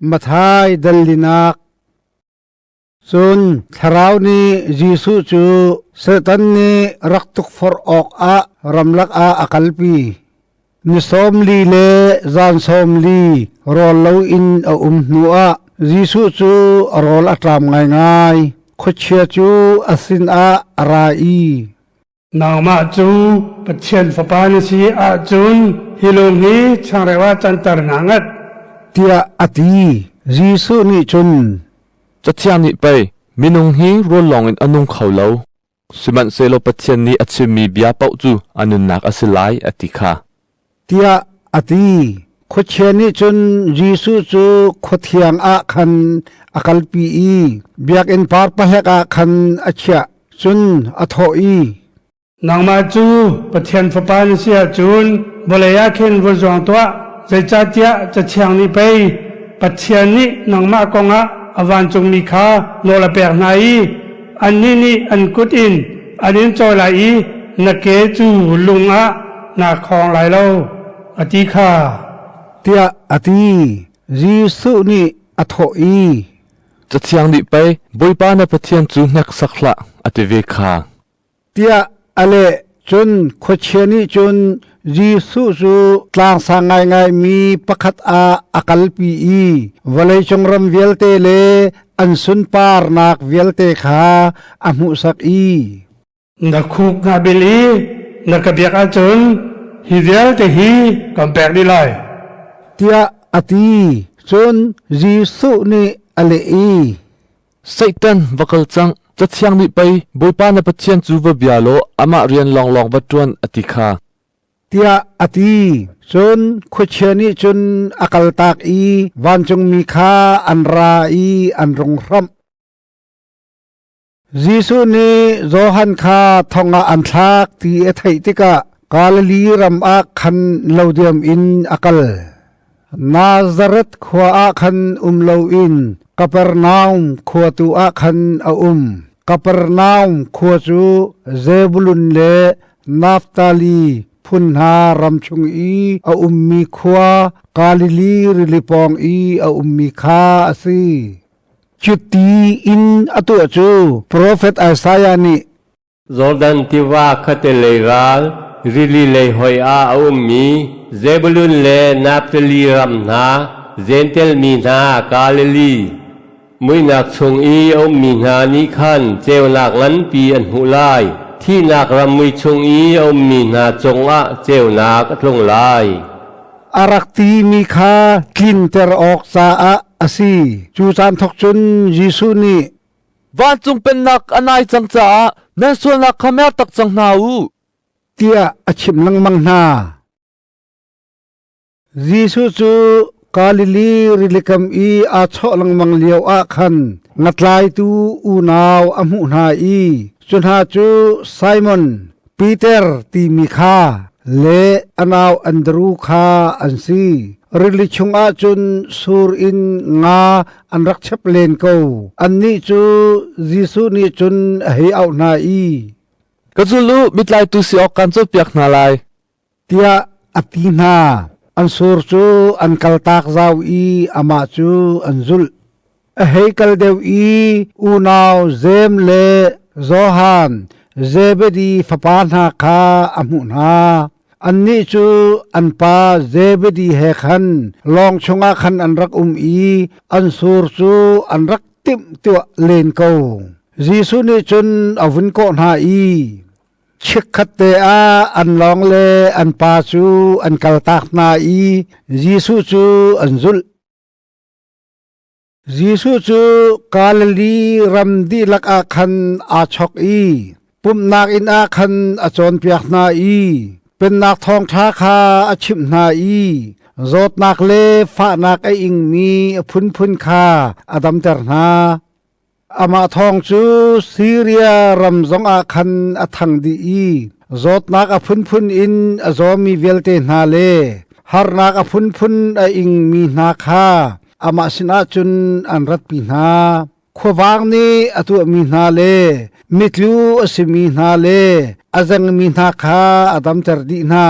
Mathai dalinak Cun Thlarau nih Jesuh cu Satan nih rak tukforh awkah ramlak ah a kalpi. Ni sawm li le zan sawm li rawl loin a um hnuah Jesuh cu rawl a ṭam ngaingai. Khuachia cu a sinah a ra i, nangmah cu Pathian fapa na si ahcun hi lung hi changreu ah canter na ngat tiah a ti Jesuh nih cun Cathiang nih pei minung hi rawl lawngin a nung kho lo sihmanhsehlaw Pathian nih a chimmi bia paoh cu a nunnak a si lai a ti kha tiah a ti. Khuachia nih cun Jesuh cu khuathiang ah khan a kalpi i biakinn par pahek ah khan a chiah. Cun a thawh i, Nangmah cu Pathian Fapa na si ahcun vawlei ah khin vun zuang tuah, zeicahtiah Cathiang nih pei, Pathian nih nangmah kongah a vancungmi kha nawl a pek hna i, Annih nih an kut in an in cawi lai i na ke cu lung ah naa khawng lai lo, a ti kha tiah a ti. Jesuh nih a thawh i, Cathiang nih pei, Bawipa na Pathian cu hneksak hlah, a ti ve kha. tiah a leh. Cun khuachia nih cun Jesuh cu tlangsang ngaingaimi pakhat ah a kalpi i vawleicung ram vialte le an sunparnak vialte kha a hmuhsak i, Na khuk na bil i na ka biak ahcun hi vialte hi kan pek dih lai, tiah a ti. Cun Jesuh nih a leh i, Satan va kal cang, Cathiang nih pei Bawipa na Pathian cu va bia law amah rian lawnglawng va ṭuan a ti kha tiah a ti. Cun khuachia nih cun a kaltak i vancungmi kha an ra i an rung hramh. Jesuh nih Johan kha thong ah an thlak ti a theih tikah Galilee ram ah khan lo diam in a kal. Nazareth khua ah khan um loin Kapernaum khua tu ah khan a um. Kapernaum khua cu Zebulun le Naftali phun hna ram chung i a ummi khua Galilee rili pawng i a ummi kha a si. Cuti in a tuah cu profet Isaiah nih, Jordan tiva khattelei ral rili lei hoi ah a ummi Zebulun le Naftali ram hna, Jentail mi hna Galilee muihnak chung i a ummi hna nih khan ceunak nganpi an hmuh lai. Thihnak ram mui chung i a ummi hna cungah ceunak a tlung lai. A rak timi kha tlinter awk caah a si. Cu caan thawk cun Jesuh nih Vancung pennak a nai cang caah nan sualnak kha mer tak cang hna u, tiah a chimh lengmang hna. Jesuh cu Galili rili kam i aa chawh lengmang lio ah khan ngatlaitu unau a hmuh hna i cu hna cu Simon, Peter timi kha le a nau Andru kha an si. Rili chungah cun sur in nga an rak chep len ko. Annih cu Jesuh nih cun a hei auh hna i, “Ka zul u, mitlaitu si awk kaan cawnpiak hna lai. tiah a ti hna. An sur cu an kaltak zau i amah cu an zulh. A hei kal deuh i unau Sem le Johan, Zebedi fapa hna kha a hmuh hna. Annih cu an pa Zebedi he khan lawng chungah khan an rak um i an sur cu an rak timhtuah len ko. Jesuh nih cun a vun kawh hna i, Chikkhat te ah an lawng le an pa cu an kaltak hna i Jesuh cu an zulh. Jesuh cu Galilee ram dihlak ah khan aa chok i pumhnak inn ah khan a cawnpiak hna i Pennak Thawngṭha kha a chimh hna i zawtnak le fahnak a ingmi a phunphun kha a damter hna. Amah thawng cu Siria ram zongah khan a thang dih i zawtnak a phunphun in a zawmi vialte hna le harnak a phunphun a ingmi hna kha amah sinah cun an ratpi hna. Khuavang nih a tuahmi hna le mitlu a simi hna le a zengmi hna kha a damter dih hna.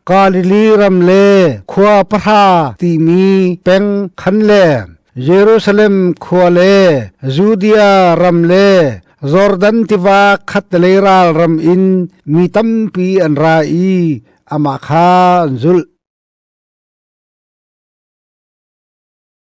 Galilee ram le khua pahra timi peng khan le Jerusalem khua le Judea ram le Jordan tiva khatlei ral ram in mi tampi an ra i amah kha an zulh.